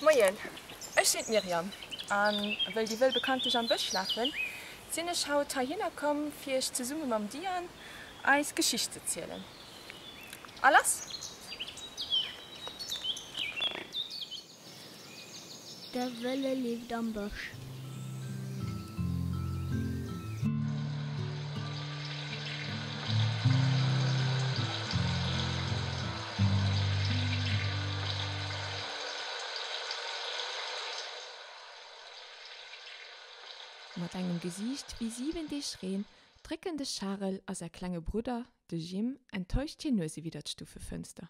Moien, ech sinn d'Myriam a wëll déi wëll bekanntlich am Bësch lafen, sinn ech haut heihinner komm fir iech zesumme mam Diane eis Geschicht ze zielen. A lass! De Wëlle leeft am Bësch. Mat engem Gesiicht wéi siwen Deeg Reen drécken de Charel a säi klenge Brudder, de Jim, enttäuscht hir Nuese widder d'Stufefënster.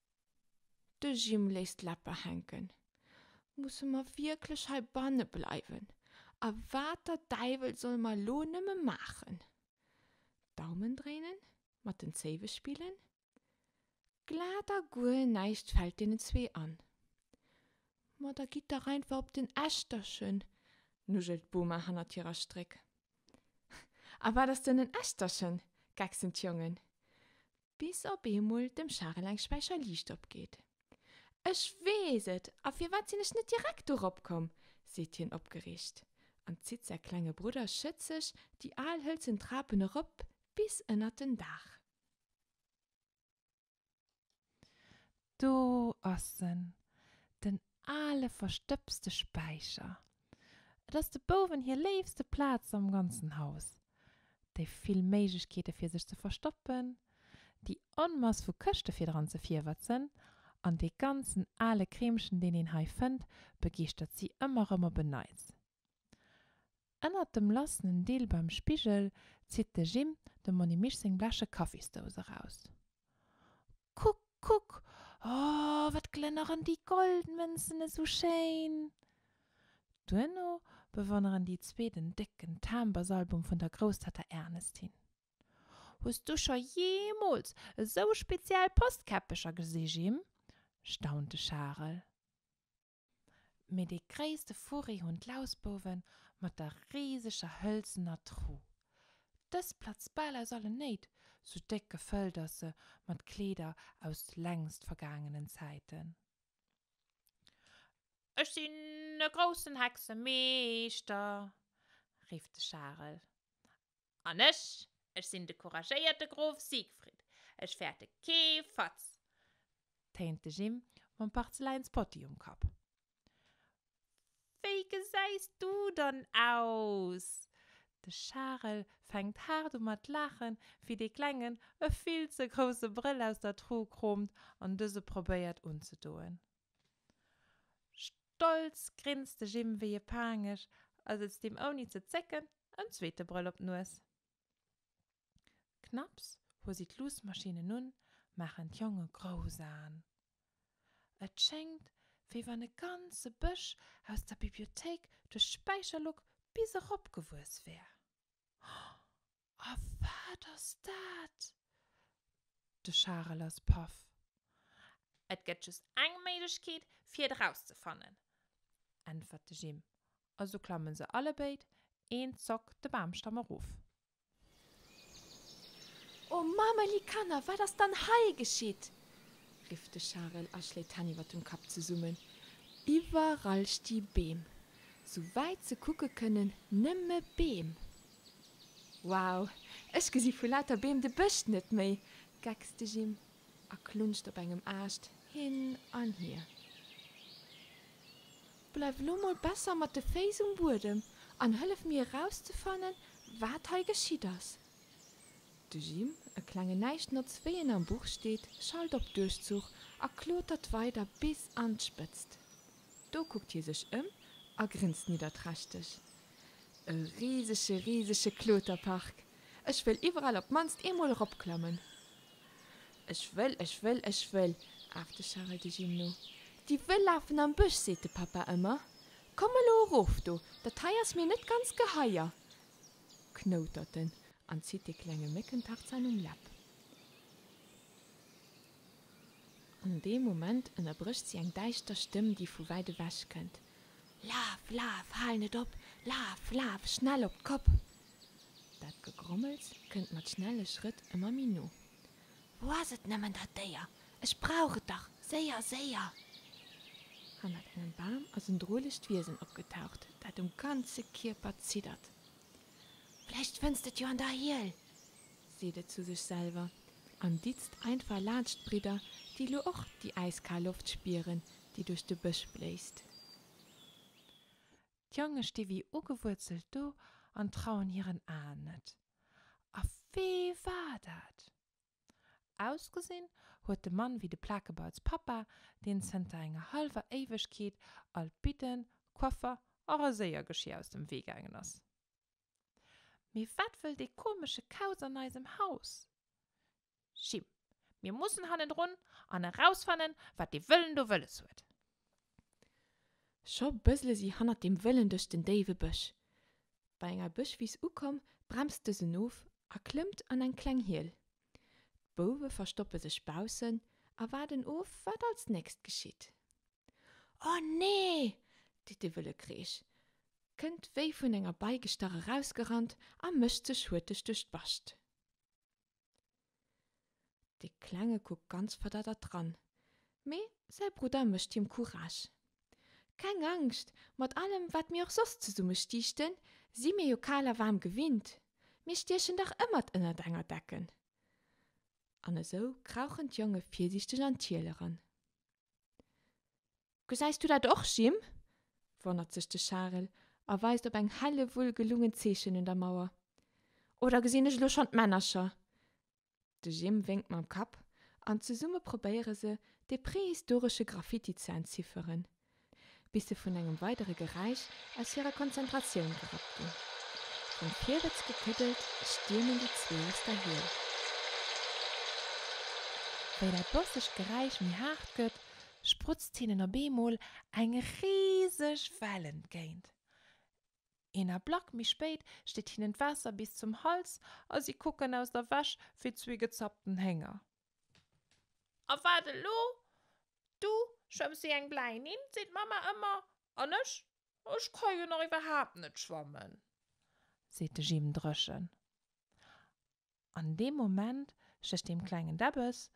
De Jim léisst d'Läpper hänken. Musse mer wierklech hei banne bleiwen? A wat der Däiwel solle mer elo nëmme maachen? Daumen dréinen? Mat den Zéiwe spillen? Glat a guer näischt fält deenen zwee an. Ma da gitt dach einfach op den Eschterchen, nudgelt d'Boma hannert hirer Stréck. A wat ass dann en Eschterchen? gechsen d'Jongen. Bis op eemol dem Charel eng Späicher Liicht opgeet. Ech weess et! A firwat sinn ech net direkt dorop komm? seet hien opgereegt an zitt säi klenge Brudder schëtzeg déi al hëlzen Trapen erop bis ënnert den Daach. Do ass en, den ale verstëbste Späicher. Et ass de Bouwen hir léifste Plaz am ganzen Haus. Déi vill Méiglechkeete fir sech ze verstoppen, déi Onmass vu Këschte fir dran ze virwetzen an dee ganzen ale Kreemchen, deen een hei fënnt, begeeschtert si ëmmer rëm op en Neits. Ennert dem lassenen Deel beim Spigel zitt de Jim dem Monimisch seng bleche Kaffisdous eraus. Kuck, kuck! O, wat glënneren déi Goldmënzen esou schéin! Duerno bewonneren déi zwee den décken Tambersalbum vun der Grousstatta Ernestin. Hues du scho jeemools esou speziell Postkäppecher gesi, Jim? staunt de Charel. Mee dee gréisste Furri hunn d'Lausbouwen mat der riseger hëlzener Tru. Dës platzt bal aus allen Néit, sou déck gefëllt ass se mat Kleeder aus längst vergaangenen Zäiten. Ech sinn e groussen Hexemeeschter! rifft de Charel An ech, ech sinn de couragéierte Grof Siegfried, ech fäerte kee Fatz! téint de Jim mam Parzeläinspotti um Kapp. Wéi gesäis du dann aus? De Charel fänkt haart u mat laachen, wéi dee Klengen e vill ze grousse Brëll aus der Tru kroomt an dëse probéiert unzedoen. Stolz grinst de Jim wéi e Paangesch a sëtzt him ouni ze zécken en zweete Brëll op d'Nues. Knapps hu si d'Luussmaschinen un, maachen d'Jonge grouss Aen. Et schéngt, wéi wann e ganze Bësch aus der Bibliothéik duerch d'Späicherluck bis erop gewuess wär. A wat ass dat? De Charel ass paff. Et gëtt just eng Méiglechkeet, fir et erauszefannen, äntwert de Jim. Also klamme se allebéid een Zock de Bamstamm erof. O Mamerli Kanner, wat ass dann hei geschitt? rifft de Charel a schléit d'Hänn iwwer dem Kapp zesummen. Iwwerall sti Beem, souwäit se kucke kënnen, nëmme Beem. Wow, ech gesi vu lauter Beem de Bësch net méi! geckst de Jim a klunscht op engem Aascht hin an hier. Bleif elo mol besser mat de Féiss um Buedem an hëllef mir erauszefannen, wat hei geschitt ass. De Jim, e klengen Näischtnotz wéi en am Buch steet, schalt op Duerchzuch a klotert weider bis an d'Spëtzt. Do kuckt hie sech ëm a grinst nidderträchteg, E risege, risege Kloterpark. Ech wëll iwwerall op d'mannst eemol eropklammen. Ech wëll, ech wëll, ech wëll, aft de Charel de Jim no. Déi wëll lafen am Bësch, seet de Papa ëmmer. Komm elo erof do, dat hei ass mir net ganz geheier, knoutert en an zitt de klenge Méckentarzan um Läpp. An deem Moment ënnerbrécht si eng däischter Stëmm, déi vu wäit ewech kënnt, Laf, laf, hal net op! Laf, laf, schnell op d'Kopp! Dat Gegrommels kënnt mat schnelle Schrëtt ëmmer méi no. Wou ass et nëmmen, dat Déier? Ech brauch et dach! Séier, séier! Hannert engem Bam ass en drolecht Wiesen opgetaucht, dat um ganze Kierper ziddert. Vläicht fënns d'et jo an der Hiel! seet et zu sech selwer an ditzt einfach laanscht d'Bridder, déi lo och déi äiskal Loft spieren, déi duerch de Bësch bléist. D'Jonge sti wéi ugewuerzelt do an trauen hiren Aen net. A wee war dat? Ausgesinn huet de Mann wéi de Plakebauz Papa, deen zënter enger hallwer Éiwegkeet all d'Bidden, Koffer a Raséiergeschier aus dem Wee gaangen ass. Mee wat wëll dee komesche Kauz an eisem Haus? Jim, Mir mussen hannendrun an erausfannen, wat dee Wëllen do wëlles huet. Scho bësle si hannert deem Wëllen duerch den déiwe Bësch. Bei enger Bëschwiss ukomm, bremst dësen of a klëmmt an eng kleng Hiel. D'Bouwe verstoppe sech baussen a waarden of, wat als nächst geschitt. Oh nee! seet de wëlle Kreesch, kënnt wéi vun enger Bei gestach erausgerannt a mécht sech hurteg duerch d'Bascht. De Klenge kuckt ganz verdaddert dran, mee säi Brudder mécht him Courage, Keng Angscht, mat allem, wat mir och soss zesumme stiichten, si mir jo kal a waarm gewinnt, mir stiechen dach ëmmert ënnert enger Decken. An esou krauchen d'Jonge virsiichteg an d'Hiel eran. Gesäis du dat och, Jim? wonnert sech de Charel a weist op eng helle Wull gelungen Zeechen un der Mauer. Oder gesinn ech elo schonn d'Männercher? De Jim wénkt mam Kapp an zesumme probéiere se, dee prehistoresche Graffiti ze entzifferen. bis se vun engem weidere Geräisch aus hirer Konzentratioun gerappt ginn. Vum Virwëtz gekëddelt, stiermen déi zwee aus der Hiel. Wéi dat bossegt Geräisch méi haart gëtt, sprutzt hinnen op eemol eng riseg Well entgéint. Een Ablack méi spéit steet hinnen d'Waasser bis zum Hals a si kucken aus der Wäsch wéi zwee gezappten Hénger. A wat elo? Du schwëmms wéi eng bläi Nimm, seet d'Mamma ëmmer. An ech, ech ka jo nach iwwerhaapt net schwammen, seet de Jim dréchen. An deem Moment stécht dem klengen Debbes,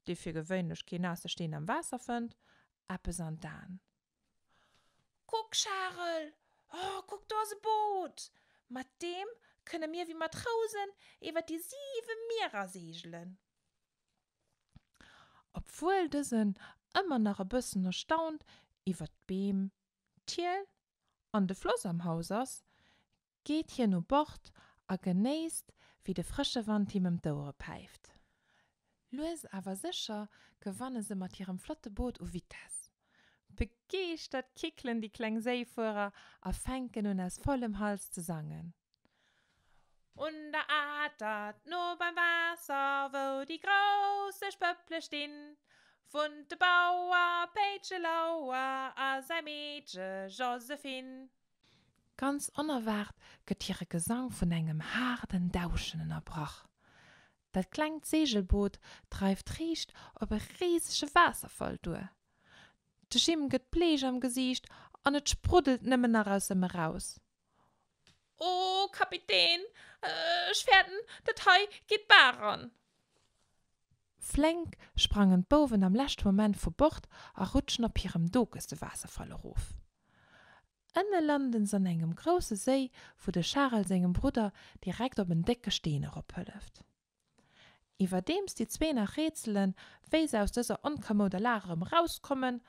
dee fir gewéinlech kee naasse Steen am Waasser fënnt, eppes an d'Aen. Kuck, Charel, oh, kuck, do ass e Boot! Mat deem kënne mir wéi Matrousen iwwer déi siwe Mierer seegelen. Obwuel dësen ëmmer nach e bëssen erstaunt iwwer d'Beem, d'Hiel an de Floss am Haus ass, geet hien u Bord a genéisst, wéi de frësche Wand him ëm d'Ouere päift. Lues awer sécher gewanne se mat hirem flotte Boot u Vitess. Begeeschtert kickelen déi kleng Séifuerer a fänken un aus vollem Hals ze sangen. Un der Atert, no beim Waasser, wou déi grouss Eech Pëpple stinn, wunnt de Bauer Péitche Lauer a säi Meedche Josephine. Ganz onerwaart gëtt hire Gesang vun engem haarden Dauschen ënnerbrach. Dat klengt Seegelboot dreift riicht op e risege Waasserfall duer. De Jim gëtt bleech am Gesiicht an et spruddelt nëmmen nach aus ëm eraus, O Kapitän, ech fäerten, dat hei geet d'Bar eran! Flénk sprangen d'Bouwen am leschte Moment vu Bord a rutschen op hirem Dokes de Waasserfall erof. Ënne landen s'an engem grousse Séi, wou de Charel sengem Brudder direkt op en décke Steen erophëlleft. Iwwerdeems déi zwee nach rätselen, wéi se aus dëser onkommouder Lag erëm erauskommen,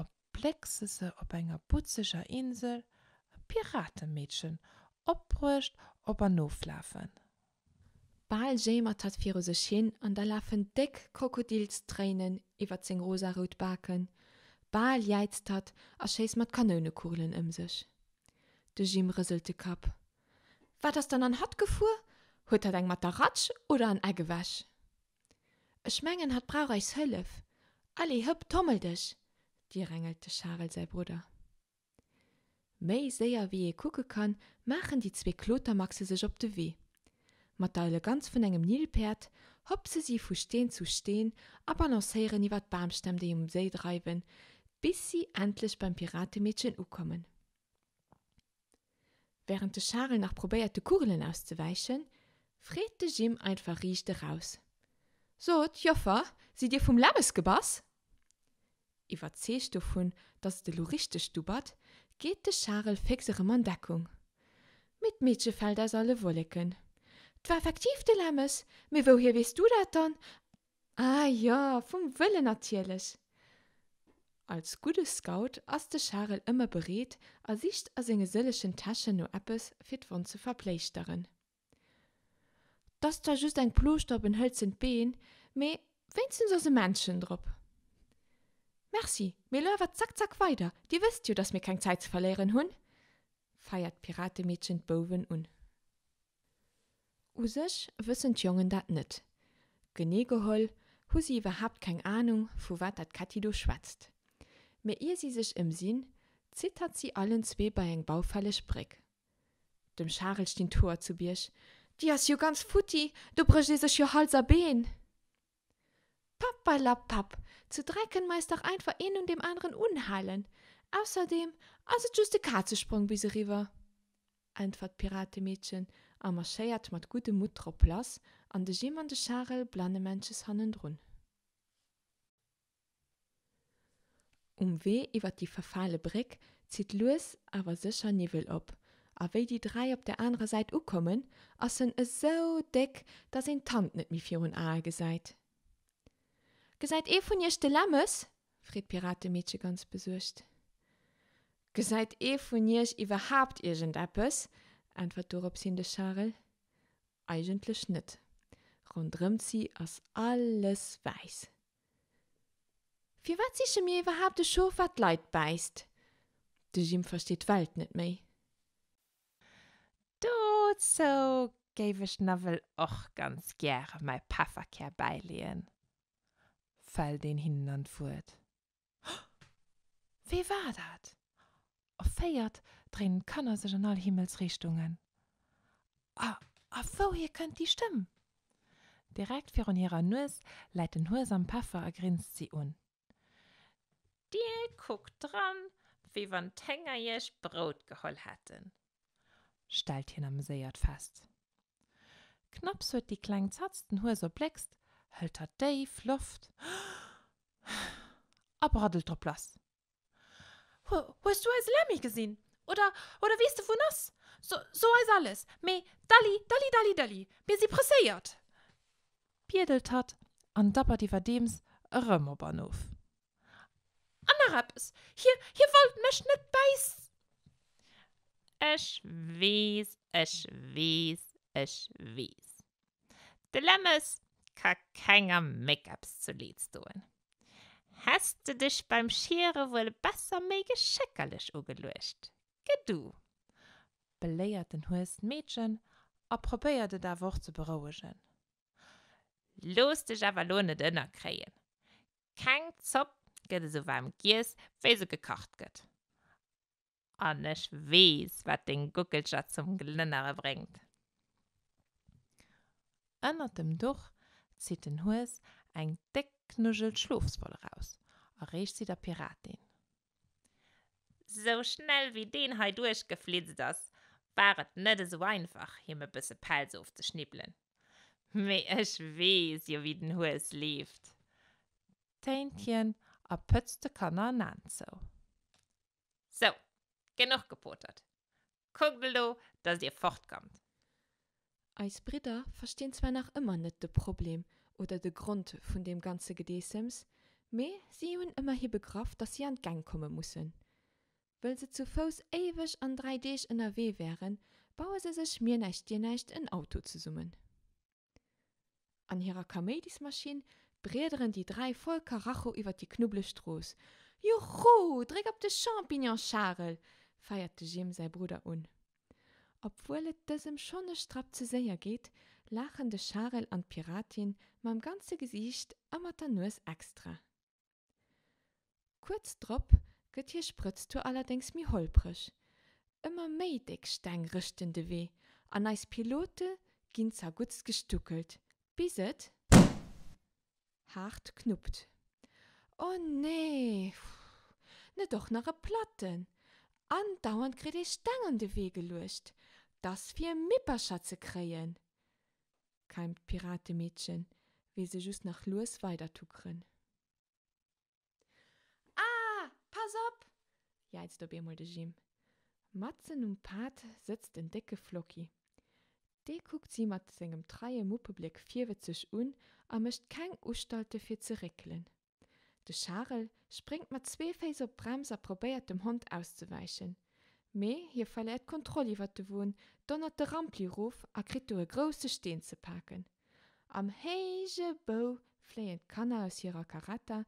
op Bleckse se op enger butzeger Insel, e Piratemeedchen, opbruecht, op an oflafen. Bal jéimert hatt viru sech hin an da lafen déck Krokodilstréinen iwwert seng rosarout Baken, bal jäizt hatt a schéisst mat Kanounekugelen ëm sech. De Jim rëselt de Kapp. Wat ass dann an hatt gefuer? Huet hatt eng mat der Ratsch oder an Eck ewech? Ech mengen, hatt brauch eis Hëllef. Allez, hëpp, tommel dech! direngelt de Charel säi Brudder. Méi séier wéi ee kucke kann, maachen déi zwee Klotermaxe sech op de Wee. Mat der Eleganz vun engem Nilpäerd hopse si vu Steen zu Steen a balancéieren iwwer d'Bamstämm, déi um Séi dreiwen, bis si endlech beim Piratemeedchen ukommen. Während de Charel nach probéiert de Kugelen auszewäichen, freet de Jim einfach riicht eraus, Sot, Joffer, sidd dir vum Läbbes gebass? Iwwerzeegt dovun, dass et elo richteg dubbert, geet de Charel féx erëm an Deckung, Mee d'Meedche fält aus alle Wolleken, 't war effektiv de Lämmes, mee wouhier weess du dat dann? Ah jo, vum Wëllen natierlech! Als gudde Scout ass de Charel ëmmer bereet a sicht a senge sëllechen Täschen no eppes, fir d'Wonn ze verpléischteren. T ass zwar just eng Plooschter op en hëlzent Been, mee wéinstens ass e Männchen drop. Merci, mee elo awer zack zack weider, Dir wësst jo, dass mir keng Zäit ze verléieren hunn! feiert d'Piratemeedchen d'Bouwen un. U sech wëssen d'Jongen dat net. Genee geholl hu si iwwerhaapt keng Anung, vu wat dat Ketti do schwätzt. Mee ier si sech ëmsinn, zittert si allen zwee bei eng baufälleg Bréck. Dem Charel stinn d'Hoer zu Bierg, Déi ass jo ganz futti, do brécht ee sech jo Hals a Been! Papperlapapp! Zu dräi kënnen mer eis dach einfach een un deem aneren unhalen. Ausserdeem ass et just e Kazesprong bis eriwwer, äntwert d'Piratemeedchen a marschéiert mat guddem Mutt drop lass an de Jim an de Charel blannemännches hannendrun. Um Wee iwwer déi verfale Bréck zitt lues awer sécher Niwwel op, a wéi déi dräi op der anerer Säit ukommen, ass en esou déck, datt een d'Hand net méi virun Ae gesäit. Gesäit ee vun iech de Lämmes? freet d'Piratemeedche ganz besuergt. Gesäit ee vun iech iwwerhaapt iergendeppes? äntwert dorops hin de Charel. Eigentlech net. Ronderëmt si ass alles wäiss. Firwat siche mir iwwerhaapt e Schof, wat d'Leit bäisst? De Jim versteet d'Welt net méi. Dozou géif ech nawell och ganz gäre mäi Pefferkär bäileeën, fält een hinnen an d'Wuert. Wee war dat? Erféiert dréinen d'Kanner sech an all Himmelsrichtungen. A wouhier kënnt déi Stëmm? Direkt virun hirer Nues läit den Hues am Peffer a grinst si un. Dir kuckt dran, wéi wann d'Hénger iech Brout geholl hätten, stellt hien ameséiert fest. Knapps huet déi Kleng Zatz den Hues erbléckst, hëlt hatt déif Loft a braddelt drop lass, Hues du eise Lemmy gesinn? Oder, oder weess de, wou en ass? So, so eis alles, mee dalli, dalli, dalli, dëlli, mir si presséiert! biedelt hatt an dappert iwwerdeems erëm op an of. An nach eppes, hie, hie wollt mech net bäis. Ech weess, ech weess, ech weess. De Lemmes ka kenger Méckups zu Leeds doen. Häss de dech beim Schiere wuel e besser méi geschéckerlech ugeluecht, ge du! beléiert den Hues d'Meedchen a probéiert et awer och ze berouegen. Looss dech awer lo net ënnerkréien, keng Zopp gëtt esou waarm giess, wéi se gekacht gëtt. An ech weess, wat deng Guckelcher zum Glënnere bréngt. Ënnert dem Duch zitt den Hues eng déck Knuggel Schlofswoll eraus a reecht si der Piratin. Sou schnell wéi deen hei duerchgeflitzt ass, war et net esou einfach, him e bësse Pelz ofzeschnibbelen. Mee ech weess jo, wéi den Hues leeft, téint hien a pëtzt de Kanner en Aan zou. Sou, genuch gepotert. Kuckt elo, dass dir fortkommt! Eis Bridder verstinn zwar nach ëmmer net de Problem oder de Grond vun deem ganze Gedeessems, mee si hunn ëmmerhi begraff, dass si an d'Gäng komme mussen. Wëll se zu Fouss éiweg an dräi Deeg ënnerwee wären, baue se sech mir näischt dir näischt en Auto zesummen. An hirer Kaméidismaschinn briederen déi dräi voll Karacho iwwer déi knubbleg Strooss. Juchu! Dréck op de Champignon, Charel! feiert de Jim säi Brudder un. Obwuel et dësem schonn e Strapp ze séier geet, laachen de Charel an d'Piratin mam ganze Gesiicht a mat der Nues extra. Kuerz drop gëtt hir Sprëtztour allerdéngs méi holpreg. Ëmmer méi déck Steng rëschten de Wee an eis Pilote ginn zerguttst gestuckelt, bis et haart knuppt. O nee! Net och nach e Platten! Andauernd kritt ee Steng an de Wee geluecht, dass fir Mippercher ze kréien. keimt d'Piratemeedchen, wéi se just nach lues weider tuckeren. Ah! Pass op! jäizt op eemol de Jim. Matzen um Pad sëtzt en décke Flocki. Dee kuckt si mat sengem treie Muppebléck virwëtzeg un a mécht keng Ustalte fir ze réckelen. De Charel spréngt mat zwee Féiss op d'Brems a probéiert dem Hond auszewäichen, mee hie verléiert d'Kontroll iwwert de Won, donnert de Rampli erof a kritt do e grousse Steen ze paken. Am héije Bou fléien d'Kanner aus hirer Caretta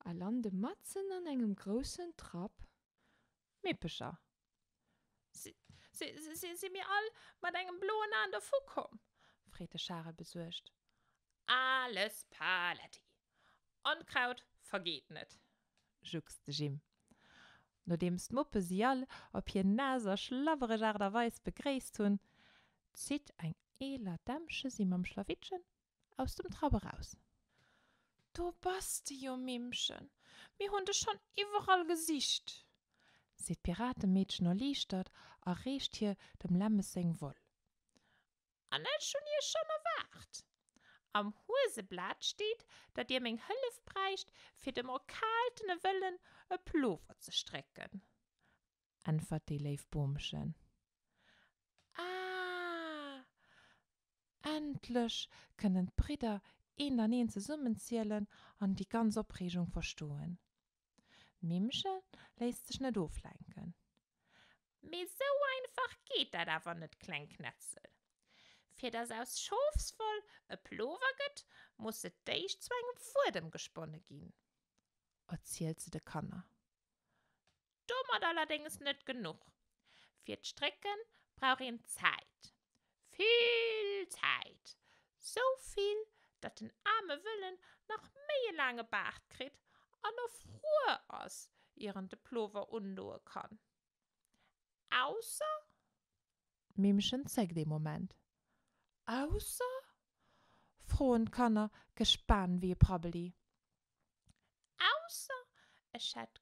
a lande matzen an engem groussen Trapp. D'Mippecher si. Si mir all mat engem bloen Aen dervu komm? freet de Charel besuergt. Alles paletti! Onkraut vergeet net! juckst de Jim. Nodeems d'Muppe si all op hir naass a schlabbereg Aart a Weis begréisst hunn, zitt eng eeler Dämmche si mam Schlawittchen aus dem Trap eraus. Do bass de jo, Mimmchen! Mir hunn dech schonn iwwerall gesicht! seet d'Piratemeedchen erliichtert a reecht hir dem Lämmes seng Woll. An ech hunn iech schonn erwaart! Am Hueseblat steet, datt dir meng Hëllef bräicht, fir dem erkaaltene Wëllen e Plover ze strécken. äntwert déi léif Boomchen. Ah! Endlech kënnen d'Bridder eent an eent zesummenzielen an déi ganz Opreegung verstoen. D'Mimmche léisst sech net oflenken. Mee esou einfach geet dat awer net, kleng Knetzel. Fir dass aus Schofswoll e Plover gëtt, muss se d'éischt zu engem Fuedem gesponne ginn, erzielt se de Kanner. Domat allerdéngs net genuch. Fir d'Strécke brauch een Zäit, vill Zäit, sou vill, datt den aarme Wëllen nach méi e laange Baart kritt an och frouer ass, ier en de Plover undoe kann. Ausser? D'Mimmchen zéckt ee Moment. Ausser? froen d'Kanner gespaant wéi e Prabbeli. Ausser ech hätt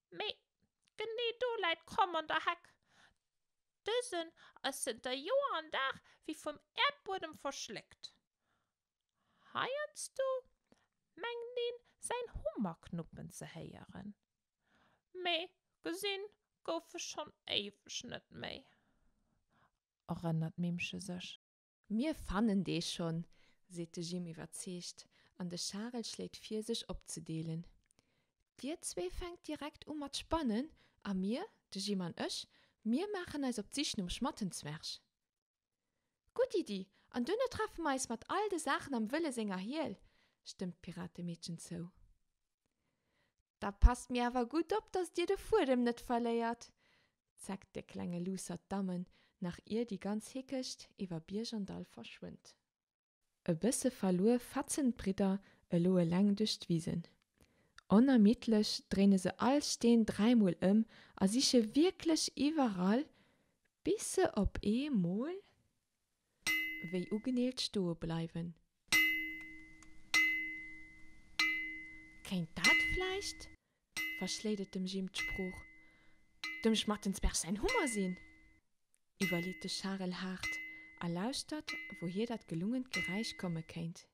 Mee genee do läit d'Kromm an der Heck, Dësen ass zënter Joer an Dag wéi vum Äerdbuedem verschléckt. Heiansdo mengt een säin Hummer knuppen ze héieren, mee gesi gouf e schonn éiweg net méi, erënnert d'Mimmche sech. Mir fannen dee schonn, seet de Jim iwwerzeegt an de Charel schléit vir sech opzedeelen. Dir zwee fänkt direkt u mat spannen a mir, de Jim an ech, mir maachen eis op d'Sich nom Schmattenzwerg. Gutt Iddi, an duerno treffe mer eis mat all de Saachen am Wëlle senger Hiel, stëmmt d'Piratemeedchen zou. Da passt mir awer gutt op, datt dir de Fuedem net verléiert, zeckt de klenge Luussert d'Dammen, nach ier déi ganz Hickecht iwwer Bierg an Dall verschwënnt. E bësse verluer fatzen d'Bridder elo eleng duerch d'Wisen. Onermiddlech dréine se all Steen dräimol ëm a siche wierklech iwwerall, bis se op eemol. Wéi ugeneelt stoe bleiwen. Kéint dat vläicht, verschléit et dem Jim d'Sprooch, dem Schmattensberg säin Hummer sinn? iwwerleet de Charel haart a lauschtert, wouhier dat gelungent Geräisch komme kéint.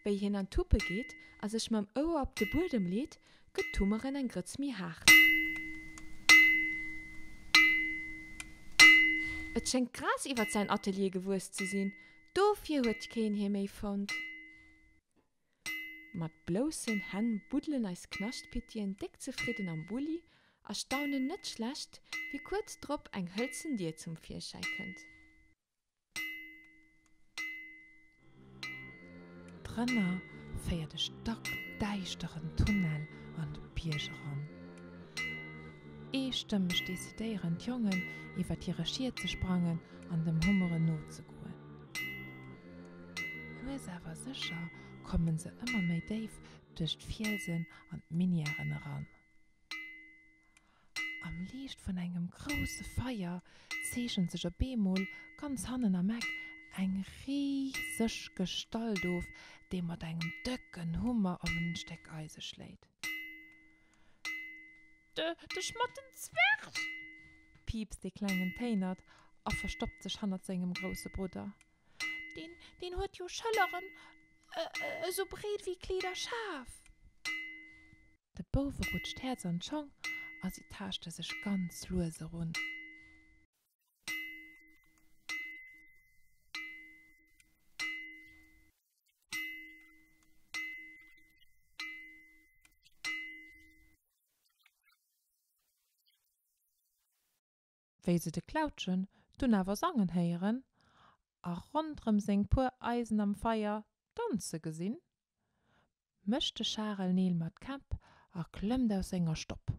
Wéi hien an d'Huppe geet a sech mam Ouer op de Buedem leet, gëtt d'Hummeren eng Grëtz méi haart. Et schéngt d'Gras iwwert säin Atelier gewuess ze sinn, dofir huet keen hie méi fonnt. Mat bloussen Hänn buddelen eis Knaschtpittien déck zefridden am Bulli a staunen net schlecht, wéi kuerz drop eng hëlzen Dier zum Virschäi kënnt. D'Rënner féier de stackdäischteren Tunnel an de Bierg eran. Eestëmmeg decidéieren d'Jongen, iwwer hire Schiet ze sprangen an dem Hummeren nozegoen. Lues awer sécher komme se ëmmer méi déif duerch d'Fielsen an d'Minièren eran. Am Liicht vun engem grousse Feier zeechent sech op eemol ganz hannen am Eck eng riseg Gestalt of, déi mat engem dëcken Hummer op en Stéck Eise schléit. De Schmattenzwerg! piipst dee Klengen téinert a verstoppt sech hannert sengem grousse Brudder. Deen huet jo Schëlleren esou breet wéi Kleeder Schaf! De Bouwe rutscht d'Häerz an d'Schong a si taaschte sech ganz lues erun. wéi se de Klautschen dunn awer sangen héieren a rondrëm seng puer Eisen am Feier danze gesinn, mécht de Charel Neel mat Käpp a klëmmt aus senger Stopp.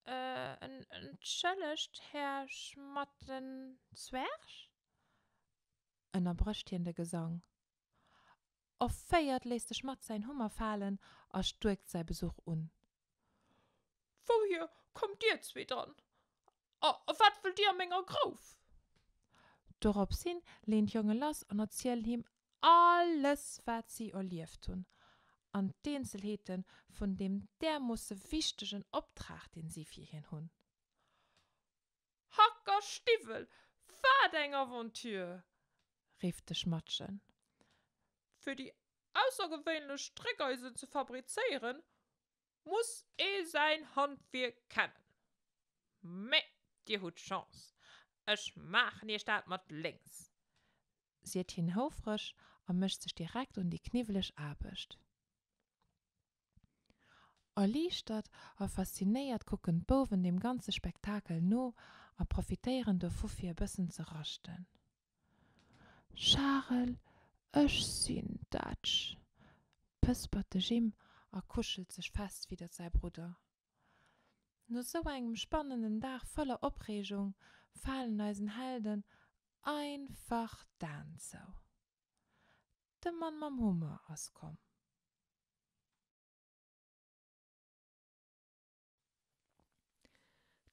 Entschëllegt, Här Schmattenzwerg, ënnerbrécht hien de Gesang, erféiert, léisst sech mat säin Hummer falen a stuerkt säi Besuch un. Wouhier kommt dir zwee dann? A wat wëllt dir a menger Grouf? Dorops hin leen d'Jonge lass an erzielen him alles, wat si erlieft hunn an d'Eenzelheete vun deem därmoosse wichtegen Optrag, deen si fir hien hunn. Hackerstiwwel, wat eng Aventure! rifft de Schmattchen. Fir déi aussergewéinlech Stréckeisen ze fabrizéieren, muss ee säin Handwierk kennen. Mee dir hutt Chance, ech maachen iech dat mat lénks, seet hien houfreg a mécht sech direkt un déi kniwweleg Aarbecht. Erliichtert a faszinéiert kucken d'Bouwen deem ganze Spektakel no a profitéieren dovu fir e bëssen ze raschten. Charel, Ech sinn d'Etsch! pëspert de Jim a kuschelt sech fest widder säi Brudder. No sou engem spannenden Dag voller Opreegung falen eisen Helden einfach d'Aen zou. De Mann mam Hummer ass komm.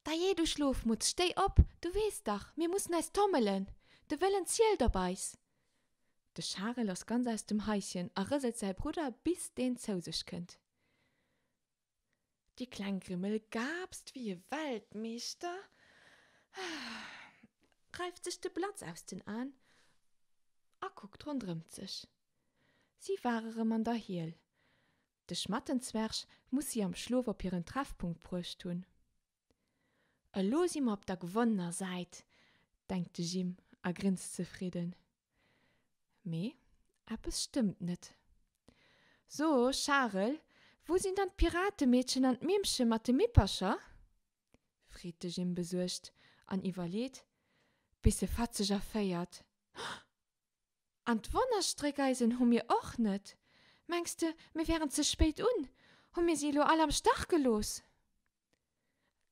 Dajee, du Schlofmutz, stéi op! Du weess dach, mir mussen eis tommelen! De Wëllen zielt op eis! De Charel ass ganz aus dem Haischen a rëselt säi Brudder, bis deen zou sech kënnt. Di kleng Grimmel gaapst wéi e Weltmeeschter, reift sech de Blatz aus den Aen a kuckt ronderëmt sech. Si war erëm an der Hiel. De Schmattenzwerg muss si am Schlof op hiren Treffpunkt bruecht hunn. Elo si mer op der gewonnener Säit, denkt de Jim a grinst zefridden. Mee eppes stëmmt net. So, Charel, wou sinn dann d'Piratemeedchen an d'Mimmche mat de Mippercher? freet de Jim besuergt an iwwerleet, bis e fatzeg erféiert, An d'Wonnerstréckeisen hu mir och net. Mengs de, mir wären ze spéit un? Hu mir si elo all am Stach gelooss?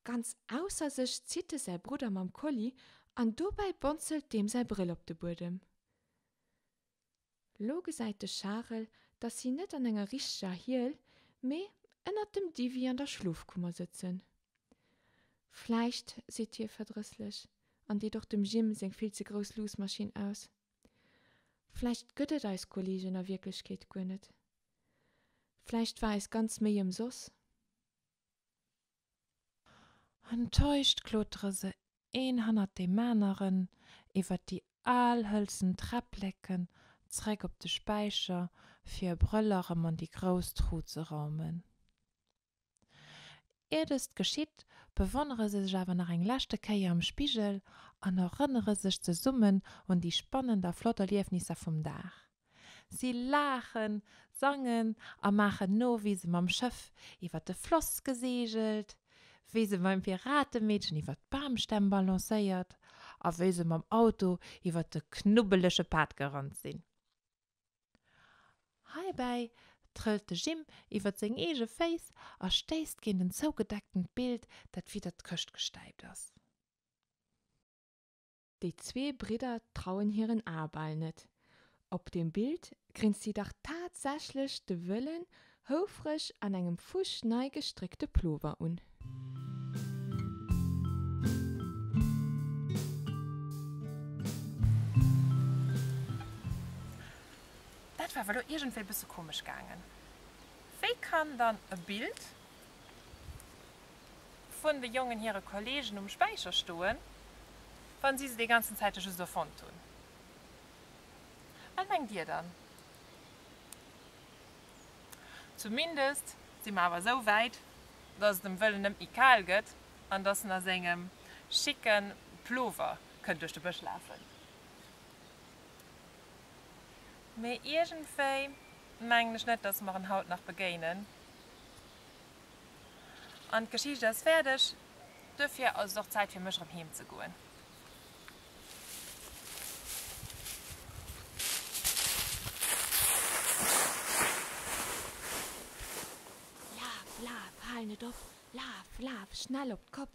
Ganz ausser sech zitt e säi Brudder mam Kolli an dobäi bonzelt deem säi Brëll op de Buedem. Lo gesäit de Charel, dass si net an enger richteger Hiel, mee ënnert dem Diwwi an der Schlofkummer sëtzen. Vläicht, seet hie verdrësslech an deet och dem Jim seng vill ze grouss Luussmaschinn aus, vläicht gëtt et eis Kollegen a Wierklechkeet guer net. Vläicht war eis ganz Méi ëmsoss. Enttäuscht klotere se een hannert deem aneren iwwert déi al hëlzen Träppleken zréck op de Späicher, fir e Brëll erëm an déi grouss Tru ze raumen. Ier dëst geschitt, bewonnere se sech awer nach eng leschte Kéier am Spigel an erënnere sech zesummen un déi spannend a flott Erliefnisser vum Dag. Si laachen, sangen a maachen no, wéi se mam Schëff iwwer de Floss geseegelt, wéi se beim Piratemeedchen iwwer d'Bamstämm balancéiert a wéi se mam Auto iwwer de knubbelege Pad gerannt sinn. Heibäi trëllt de Jim iwwer seng eege Féiss a stéisst géint en zougedecktent Bild, dat widder d'Këscht gestäipt ass. Déi zwee Bridder trauen hiren Ae bal net. Op dem Bild grinst si dach tatsächlech de wëllen, houfreg an engem fusch nei gestréckte Plover un. Dat war awer elo iergendwéi bësse komesch gaangen. Wéi kann dann e Bild vun de Jongen hire Kollegen um Späicher stoen, wa si se dee ganzen Zäite just erfonnt hunn. Wat mengt Dir dann? Zumindest si mer awer esou wäit, dass et dem Wëllen net méi kal gëtt an dass en a sengem schicke Plover kënnt duerch de Bësch lafen. Mee iergendwéi mengen ech net, dass mer en haut nach begéinen. An d'Geschicht ass fäerdeg. Duerfir ass et och Zäit fir mech erëm heem ze goen. Laf, laf, hal net op! Laf, laf, schnell op d'Kopp!